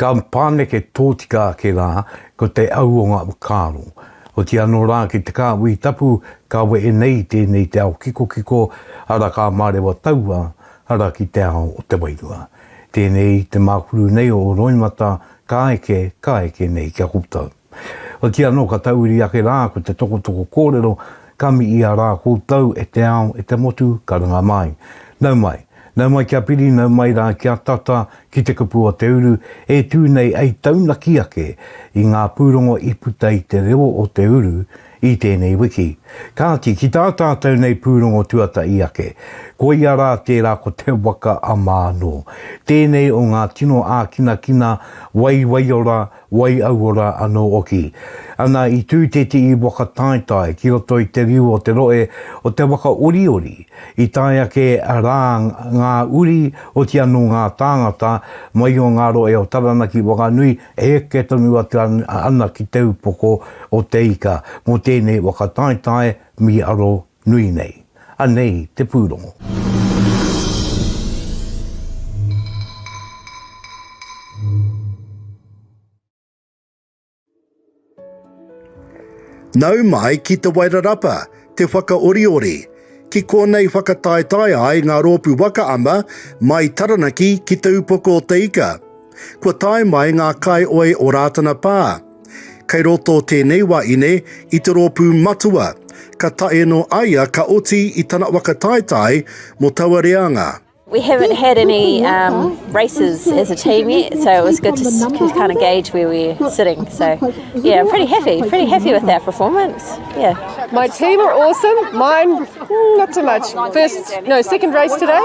Ka pāneke tōtika ake rā, ko te au o ngā whakaaro. Otirā anō rā ki te kāhui tapu ka wehe nei tēnei te ao kikokiko, arā ka mārewa taua ara ki te ao o te wairua. Tēnei te mākuru nei o roimata ka eke, ka eke nei kia koutou. Ko tia anō ka tauiri ake rā ko te tokotoko kōrero ka miia rā koutou e te ao e te motu ka runga mai. Nau mai. Nau mai kia piri nau mai rā kia tata ki te kupu o te uru e tū nei ei taunaki ake i ngā pūrongo i puta i te reo o te uru i tēnei wiki. Kāti ki tā tātou nei pūrongo tuatahi ake koia rā tērā ko te waka a Mānō. Tēnei o ngā tino ākinakina waiwaiora Wai aua rā anō oki. Ana i tū te tii whakataetae ki roto i te riu o te roe o te waka oriori, i tae ake rā ngā uri oti anō ngā tāngata mai o ngā roe o Taranaki Whakanui e eke tonu atu ana ki te upoko o Te Ika mō tēnei whakataetae, mi aro Nui nei. Anei te pūrongo. Nau mai ki Te Wairarapa, Te Whakaoriori, ki konei whakataetae ai ngā rōpū waka ama mai Taranaki ki Te Upoko o te Ika. Kua tae mai ngā kaioi o Rātana Pā. Kei roto tēnei wa ine i te rōpū matua, ka tae no aia ka oti i tana waka taetae mo taua reanga. We haven't had any um races as a team yet, so it was good to kind of gauge where we were sitting. So yeah, I'm pretty happy, pretty happy with our performance. Yeah. My team are awesome, mine not so much. First, no, second race today.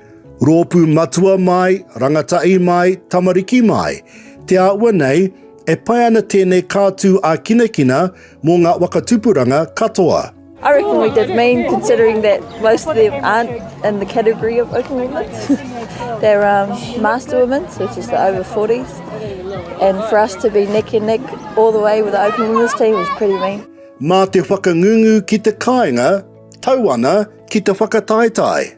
Rōpū matua mai, rangatahi mai, tamariki mai, te āhua nei, e pai ana tēnei kātū ākinakina mō ngā waka tupuranga katoa. I reckon we did mean considering that most of them aren't in the category of working women. They're um, master women, which is the over 40s. And for us to be neck and neck all the way with the open women's team was pretty mean. Mā te whakangungu ki te kāinga, tau ana ki te whakataetae.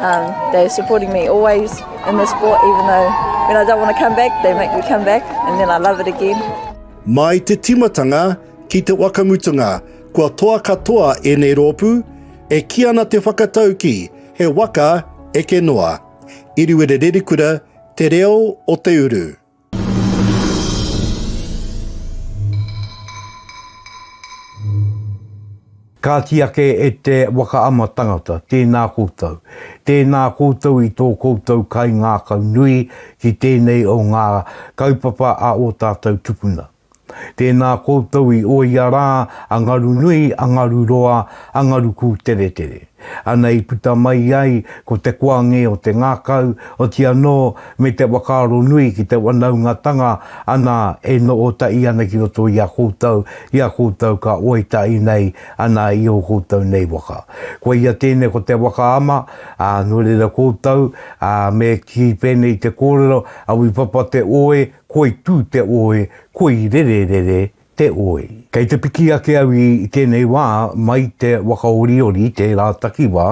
Um, they're supporting me always in the sport, even though when I don't want to come back, they make me come back, and then I love it again. Mai te timatanga ki te wakamutunga, kua toa katoa ēnei rōpū, e ki ana te whakatauki he waka eke noa. Iriwere Rerikura, Te Reo o Te Uru. Kāti ake e te waka ama tangata, tēnā koutou. Tēnā koutou i tō koutou kaingākau nui ki tēnei o ngā kaupapa a ō tātou tupuna. Tēnā koutou i oia rā a Ngaru nui, a Ngaru roa, a Ngaru kūteretere. Ana i puta mai ai ko te koange o te ngakau, oti anō me te whakaaro nui ki te wanaungatanga ana e nootaʻi ana ki roto i a koutou, i a koutou ka oitaʻi nei ana i ō koutou nei waka. Koia tēnei ko te waka ama, ā, nō reira koutou, ā, me kī pēnei te kōrero, a Wipapa te oe, Koi tū te oi, koi rererere te oi. Kei te piki ake au i tēnei wā mai te Wakaoriori tērā takiwā,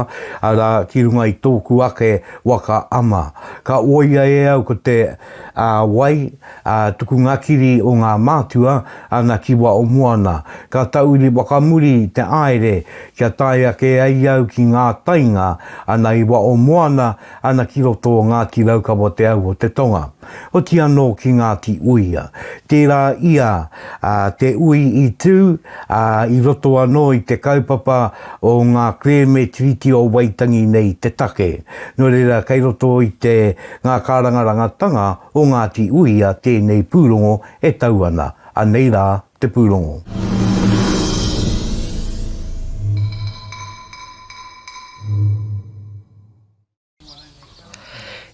arā, ki runga i tōku ake waka ama. Ka oia e au ko te wai, tukunga kiri o ngā mātua, ana ki Waomoana. Ka tauri whakamuri te aere kia tae ake ai au ki ngā tainga, ana i Waomoana, ana ki roto o Ngāti Raukawa te au o te tonga. Oti anō ki Ngāti Uia. Tērā ia te ui i tū i roto anō i te kaupapa o ngā kerēme Tiriti o Waitangi nei te take. Nō reira, kei roto i te ngā kārangarangatanga o Ngāti Uia tēnei pūrongo e tau ana. Anei rā te pūrongo.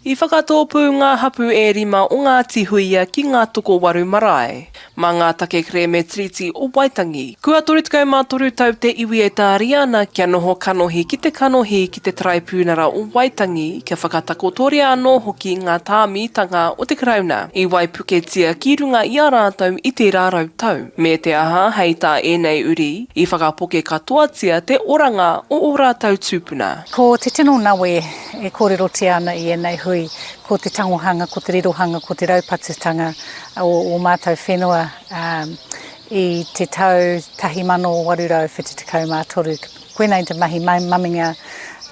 I whakatōpū ngā hapū e rima o Ngāti Huia ki ngā tokowaru marae. Mā ngā take kerēme Tiriti o Waitangi, kua 33 tau te iwi e tāria ana kia noho kanohi ki te kanohi ki te Taraipiunara o Waitangi, kia whakatakotoria anō hoki ngā tāmitanga o te Karauna i waipuketia ki runga i a rātou i tērā rau tau. Me te aha, hei tā ēnei uri, i whakapoke katoatia te oranga o ō rātou tūpuna. Ko te tino nawe e kōrerotia ana i ēnei hui, ko te tangohanga, ko te rirohanga, ko te raupatutanga o ō mātou whenua i te tau 1873. Koinei te mahi maminga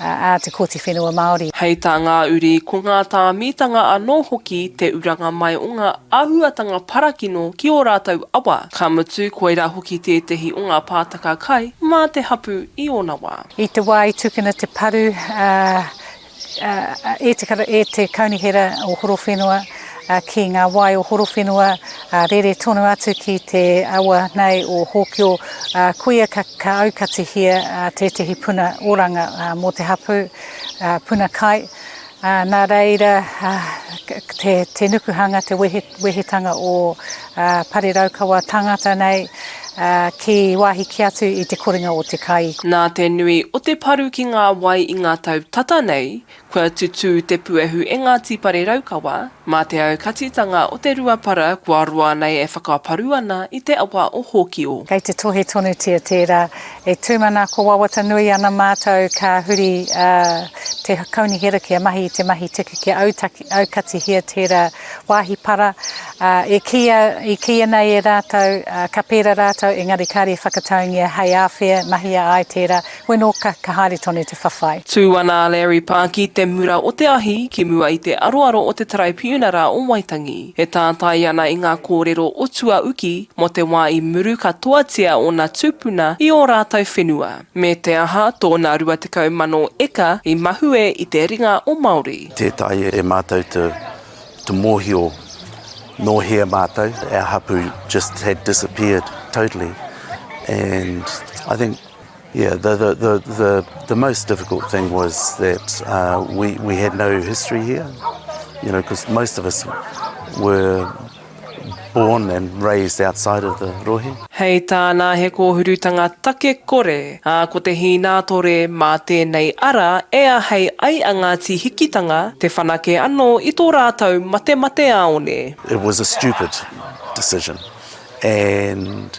a te Kōti Whenua Māori. Hei tā ngā uri, ko ngā tāmitanga anō hoki te uranga mai o ngā āhuatanga parakino ki ō rātou awa, ka mutu, koirā hoki tētehi o ngā pātaka kai mā te hapū i ōna wā. I te wā i tukuna te paru e te Kaunihera o Horowhenua ki ngā wai o Horowhenua rere tonu atu ki te awa nei o Hōkio, koia ka aukatihia tētehi puna oranga mō te hapū, puna kai. Ā, nā reira, ā, te, te nukuhanga, te wehe, wehetanga o, ā, Pare Raukawa tangata nei, ā, ki wāhi kē atu i te korenga o te kai. Nā te nui o te paru ki ngā wai i ngā tau tata nei, kua tutū te puehu e Ngāti Pare Raukawa, Mā te aukatitanga o Te Ruapara kua roa nei e whakaparu ana i te awa o Hōkio. Kei te tohe tonutia tērā. E tūmanako wawata nui ana mātou ka huri a Te Kaunihera kia mahi i te mahi tiku kia aukatihia tērā wāhi para. E kīia, i kīia nei e rātou ka pērā rātou engari kāre e whakataungia hei āwhea, mahia ai tērā. Weno ka, ka haere tonu te whawhai. Tū ana a Larry Pa ki te mura o te ahi, ki mua i te aroaro o te Taraipiuna rā o Waitangi. E tātai ana i ngā kōrero o tuauki mō te wā i muru katoatia ōna tūpuna i ō rātou whenua, me te aha tōna 20,000 eka i mahue i te ringa o Māori. Tētahi e mātou to, to mōhio nō hea mātou, our hapu just had disappeared totally and I think. Yeah, the, the, the, the, the most difficult thing was that uh, we, we had no history here, you know, because most of us were born and raised outside of the rohe. Hei tāna he kōhurutanga take kore, ā, ko te hīnātore mā tēnei ara e ahei ai a Ngāti Hikitanga te whanake anō i tō rātou matemate āone. It was a stupid decision and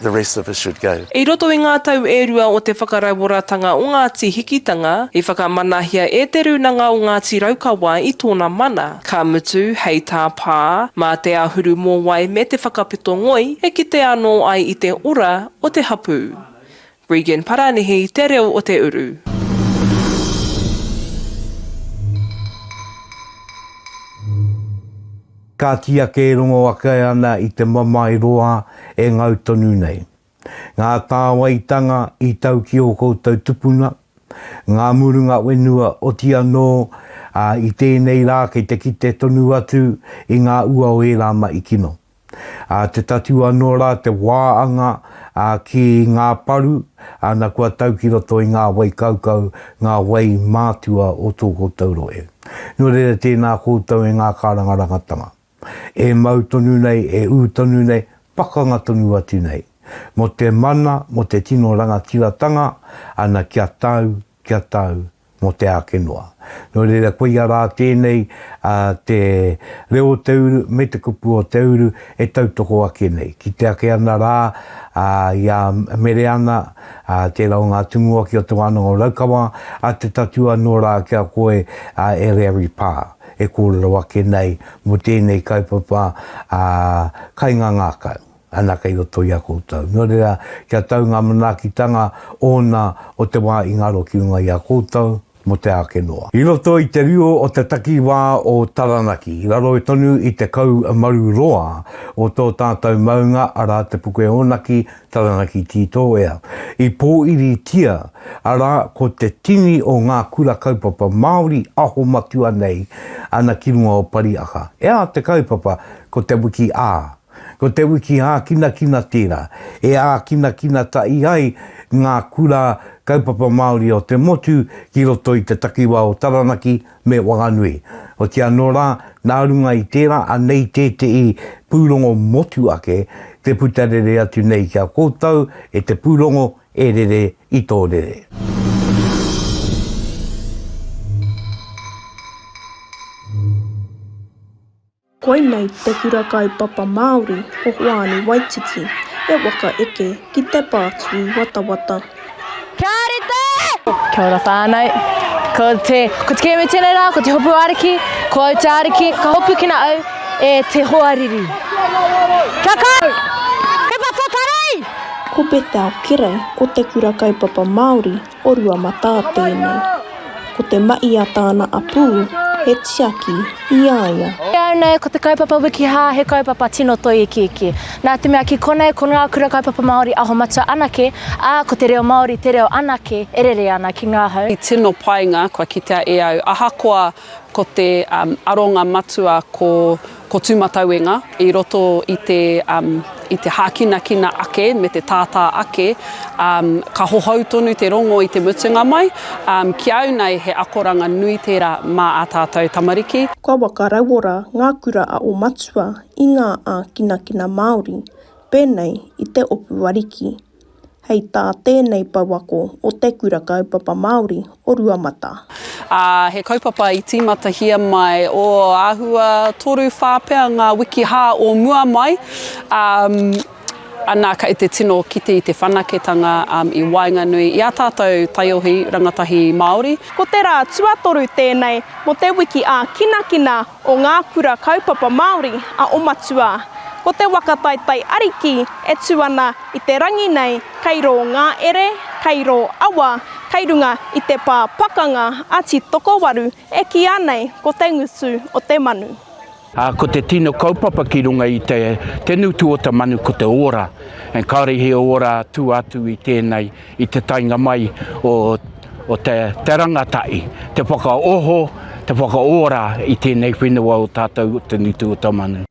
the rest of us should go. I roto i ngā tau e rua o te whakarauoratanga o Ngāti Hikitanga, i whakamanahia e Te Rūnanga o Ngāti Raukawa i tōna mana, ka mutu, hei tā Pā, mā te āhuru mōwai me te whakapito ngoi e kite anō ai i te ora o te hapū. Regan Paranihi te reo o te uru. Ka kīa kē rongo ake ana i te mamae roa e ngau tonu nei. Ngā tāwaitanga i tau ki ō koutou tupuna, ngā murunga whenua oti anō, ā, i tēnei rā kei te kite tonu atu i ngā ua o ērā mahi kino. Ā, te tatū anō rā te wā anga ā, ki ngā paru, ā, na kua tau ki roto i ngā wai kaukau, ngā wai mātua o tō koutou rohe. Nō reira tēnā koutou e ngā kārangarangatanga, e mau tonu nei, e ū tonu nei, pakanga tonu atu nei, mō te mana, mō te tino rangatiratanga, ana kia tau kia tau mō te āke noa. Nō reira, koia rā tēnei a te reo o te uru me te kupu o te uru e tautoko ake nei. Kite ake ana rā i a Mereana, tērā o ngā tumuaki o Te Wānanga o Raukawa, a Te Tatū anō rā ki a koe e Reary Pā, e kōrero ake nei mō tēnei kaupapa kaingangākau. Ana kei roto i a koutou. Nō reira, kia tau ngā manaakitanga ōna o te wā i ngaro ki runga i a koutou mō te āke noa. I roto i te riro o te takiwā o Taranaki, raro tonu i te kau maru roa o tō tātou maunga, arā, te puke ōnaki, Taranaki Tītōea, i pōiritia, arā, ko te tini o ngā kura kaupapa Māori aho matua nei ana ki runga o Pariaka. E ā te kaupapa, ko te wiki ā, Ko te wiki hākinakina tērā, e ākinakina tahi ai ngā kura kaupapa Māori o te motu ki roto i te takiwā o Taranaki me Whanganui. Otiia anō rā, nā runga i tērā anei tētehi pūrongo motu ake te puta rere atu nei ki a koutou e te pūrongo E Rere i tō Rere. Koinei te kura kaupapa Māori o Hoani Waititi, he waka eke ki te pātui watawata. Kia ora te! Kia ora whānau. Ko te, ko te kēmu tēnei rā, ko te hopu ariki, ko au te ariki, ka hopukina au e te hoariri. Kia kaha! He waka karei! Ko Bethel Kerei o te kura kaupapa Māori O Ruamatā tēnei. Ko te maʻi a tāna apū, he tiaki i a ia. E au nei, ko te kaupapa Wikihā he kaupapa tino toi ikiiki. Nā te mea ki konei ko ngā kura kaupapa Māori aho matua anake, ā, ko te reo Māori te reo anake e rere ana ki ngā hau. He tino painga kua kitea e au ahakoa ko te aronga matua ko Ko Tūmatauenga, i roto i te, um, i te hākinakina ake me te tātā ake, um, ka hohou tonu te rongo i te mutunga mai, um, ki au nei he akoranga nui tērā mā ā tātou tamariki. Kua whakarauora ngā kura a ō matua i ngā ākinakina Māori, pēnei i te opu ariki. hei tā tēnei pouako o Te Kura Kaupapa Māori o Ruamata. Ā, he kaupapa i tīmatahia mai ō āhua toru whā pea ngā wiki hā o mua mai, ā, ana kei te tino kite i te whanaketanga i waenganui i ā tātou taiohi rangatahi Māori. Ko te rā tuatoru tēnei mō te wiki ākinakina o ngā kura kaupapa Māori a o Matua. Ko te waka taetae ariki e tū ana i te rangi nei kei rō ngā ere, kei rō awa, kei runga i te pā pakanga a Titokowaru e kīa nei ko te ngutu o te manu. Ā, ko te tino kaupapa ki runga i te ngutu o te manu ko te ora, ā, kāore he ora tua atu i tēnei. i te taenga mai o o te te rangatahi, te whakaoho, te whakaora i tēnei whenua o tātou o Te Nutu-o-Tamanu.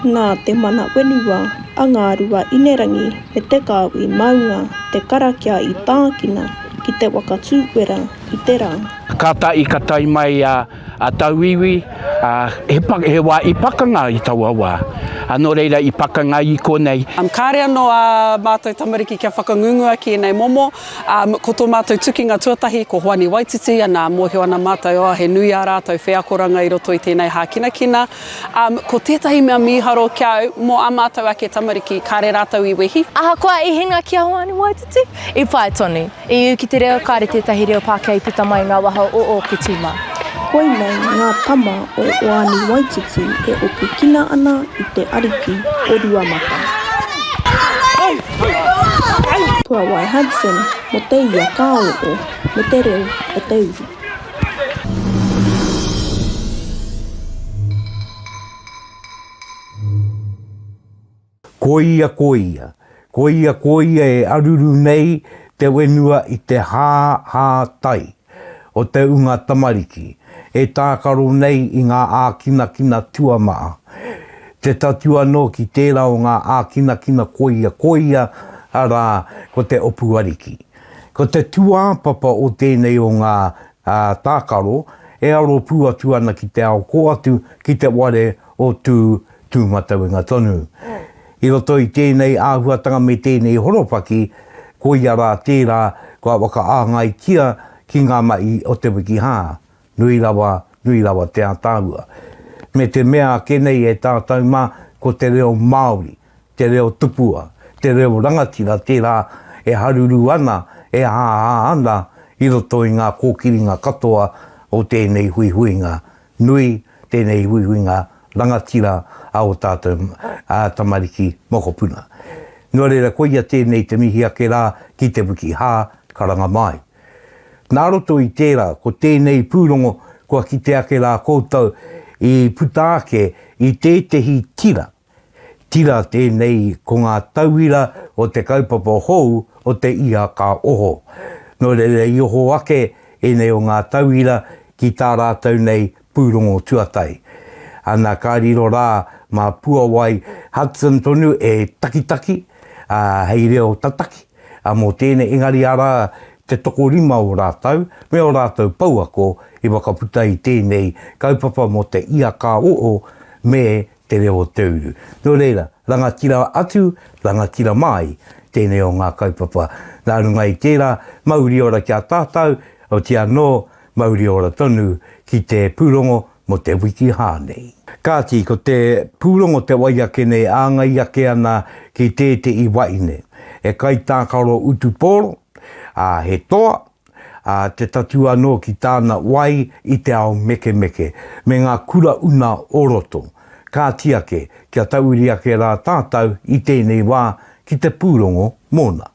Nā te mana whenua a Ngārua Inerangi me Te Kāhui Maunga te karakia i tākina ki te waka tūwera i te rā. Kātahi ka tae mai a. a tauiwi, a, he, he wa i pakanga i taua wa, a no reira i pakanga i konei. Um, kare ano a matou tamariki kia whakangungua ki enei momo, um, ko to matou tukinga tuatahi ko Hoani Waititi, ana, mohio ana matou, oh, he nui a ratou wheakoranga i roto i tenei hakinakina. Um, ko tetahi mea miharo ki au, mo a matou ake tamariki, kare ratou i wehi. Ahakoa i hinga ki a Hoani Waititi, i pai tonu. I ū ki te reo, kāre tētahi reo Pākehā i puta mai i ngā waha o ōku tīma. Koinei ngā tama o Oani Waititi e opukina ana i te ariki o Ruamata. Puawai Hudson mo te ia ka oo me te reo o te uru. Koia koia, koia koia e aruru nei te wenua i te hā hā tai o te unga tamariki e tākaro nei i ngā ākinakina tuamaha, te tatū anō ki tērā o ngā ākinakina koia koia, arā, ko te opu ariki. Ko te tūāpapa o tēnei o ngā tākaro e aro pū atu ana ki te ao kō atu ki te ware o Tū Tūmatauenga tonu. I roto i tēnei āhuatanga me tēnei horopaki, koia rā tērā kua whakaāngaitia ki ngā mahi o te wiki hā, nui rawa, nui rawa te ātaahua. Me te mea ake nei e tātou mā, ko te reo Māori, te reo tupua, te reo rangatira tērā e haruru ana, e āhā ana i roto i ngā kōkiringa katoa o tēnei huihuinga Nui tēnei huihuinga rangatira a ō tātou tamariki mokopuna. Nō reira, koia tēnei te mihi ake rā ki Te Wiki Hā, Karanga Māi. Nā roto i tērā, ko tēnei pūrongo kua kite ake rā koutou i puta ake i tētehi tira Tira tēnei ko ngā tauira o te kaupapa hou o te iha ka oho. Nō reira i oho ake ēnei o ngā tauira ki tā rātou nei pūrongo tuatahi. Ana ka riro rā mā puawai Hudson tonu e takitaki, ā, hei reo tataki, ā, mō tēnei engari arā te tokorima o rātou me ō rātou pouako i whakaputa i tēnei kaupapa mō te iha ka oho me te reo o te uru. Nō reira, rangatira atu, rangatira māi tēnei o ngā kaupapa. Nā runga i tērā, mauri ora ki a tātau, oti anō, mauri ora tonu ki te pūrongo mō te wiki hā nei. Kāti, ko te pūrongo te wai ake nei, āngai ake ana ki tētehi wahine, he kaitākaro utu pōro, ā, he toa, ā, te tatū anō ki tāna wai i te ao mekemeke, me ngā kura una o roto. Kāti ake, kia tauiri ake rā tātou i tēnei wā ki te pūrongo mōna.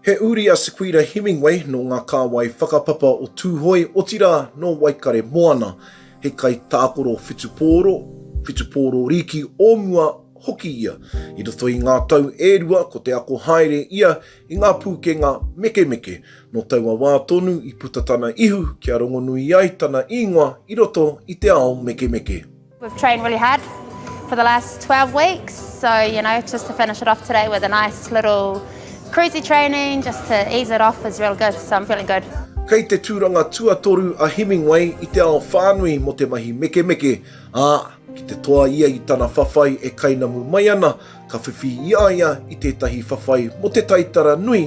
He uri a Sequira Hemingway nō ngā kāwai whakapapa o Tūhoe, otirā nō Waikare Moana. He kaitākoro whutupōro, whutupōro rīki o mua hoki ia. I roto i ngā tau e rua ko te ako haere ia i ngā pūkenga mekemeke. Nō taua wā tonu i puta tana ihu kia rongonui ai tana īngoa i roto i te ao mekemeke. We've trained really hard for the last 12 weeks, so you know, just to finish it off today with a nice little cruisy training, just to ease it off is real good, so I'm feeling good. Kei te tūranga tuatoru a Hemingway i te ao whānui mō te mahi mekemeke, ā, ki te toa ia i tana whawhai e kainamu mai ana, ka whiwhi i a ia i tētahi whawhai mō te taitara nui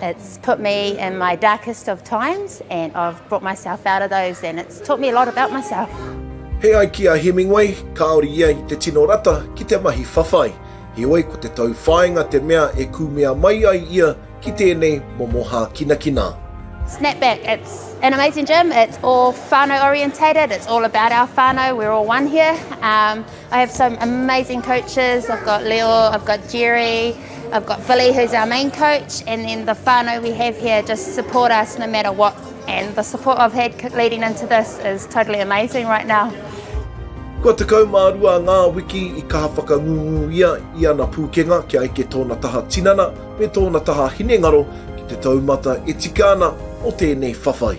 It's put me in my darkest of times and I've brought myself out of those and it's taught me a lot about myself. He ai ki a Hemingway, kāore ia i te tino rata ki te mahi whawhai, heoi ko te tauwhāinga te mea e kūmea mai ai ia ki tēnei momo hākinakina. Snapback, it's an amazing gym, it's all whānau orientated, it's all about our whānau, we're all one here. Um, I have some amazing coaches, I've got Leo, I've got Jerry, I've got Billy who's our main coach and then the whānau we have here just support us no matter what and the support I've had leading into this is totally amazing right now. Kua 12 ngā wiki i kaha whakangungu ia i ana pūkenga kia eke tōna taha tinana me tōna taha hinengaro ki te taumata e tika ana o tēnei whawhai.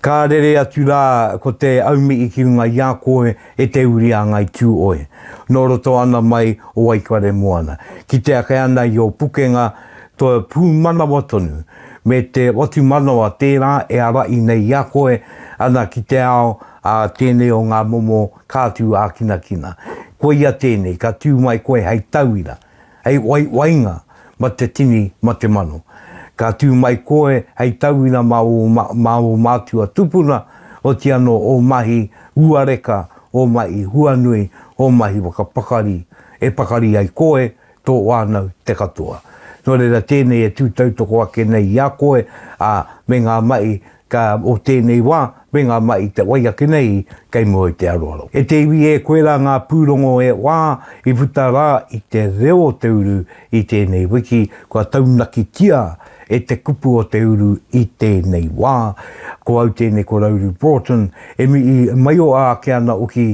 Ka rere atu rā ko te aumii ki runga i a koe e te uri a Ngai Tūoe, nō roto ana mai o Waikaremoana, ki te ake ana i ō pukenga to pūmanawa tonu, me te whatumanawa tērā e arahi nei i a koe ana ki te ao a tēnei o ngā momo kātū ākinakina. Koia tēnei, ka tū mai koe hei tauira. Hei waiwainga ma te tini ma te mano. Ka tu mai koe hei tauina ma o ma o matua tupuna oti ano o mahi ua reka o mahi huanui o mahi whakapakari e pakari ai koe to whanau te katoa. No reira tenei e tu tautoko ake nei i a koe a me nga mahi Ka, o tēnei wā, me ngā mahi i te wai ake nei, kei mua i te aroaro. E te iwi e koe rā ngā pūrongo e wā i puta rā i te reo o te uru i tēnei wiki, kua taunakitia e te kupu o te uru i tēnei wā. Ko au tēnei ko Rauru Broughton, e mihi mai o āke ana oki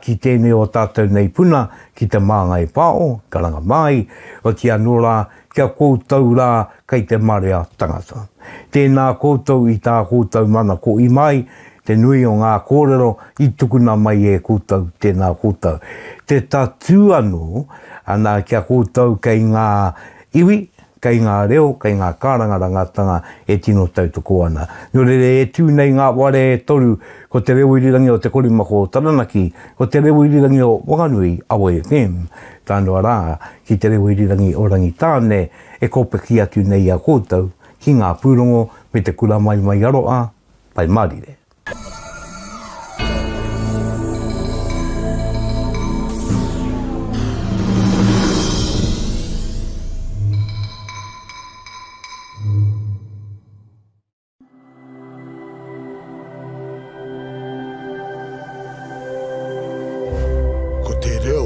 ki tēnei o tātou nei puna ki Te Māngai Pāo, Karanga Māi, waki anō rā kia koutou rā kei te marea tangata. Tēnā koutou i tā koutou manako i mai, te nui o ngā kōrero i tukuna mai e koutou, tēnā koutou. Te tatū anō, ana ki a koutou kei ngā iwi, kei ngā reo, kei ngā kārangarangatanga e tino tautoko ana. Nō reira e tū nei ngā ware e toru, ko te reo irirangi o Te Korimako o Taranaki, ko te reo irirangi o Wanganui, Awa FM, tānoa rā, ki te reo irirangi o Rangitāne e kōpaki atu nei i a koutou ki ngā pūrongo me te kura mai mai aroa, Pai Mārire. Ko te reo.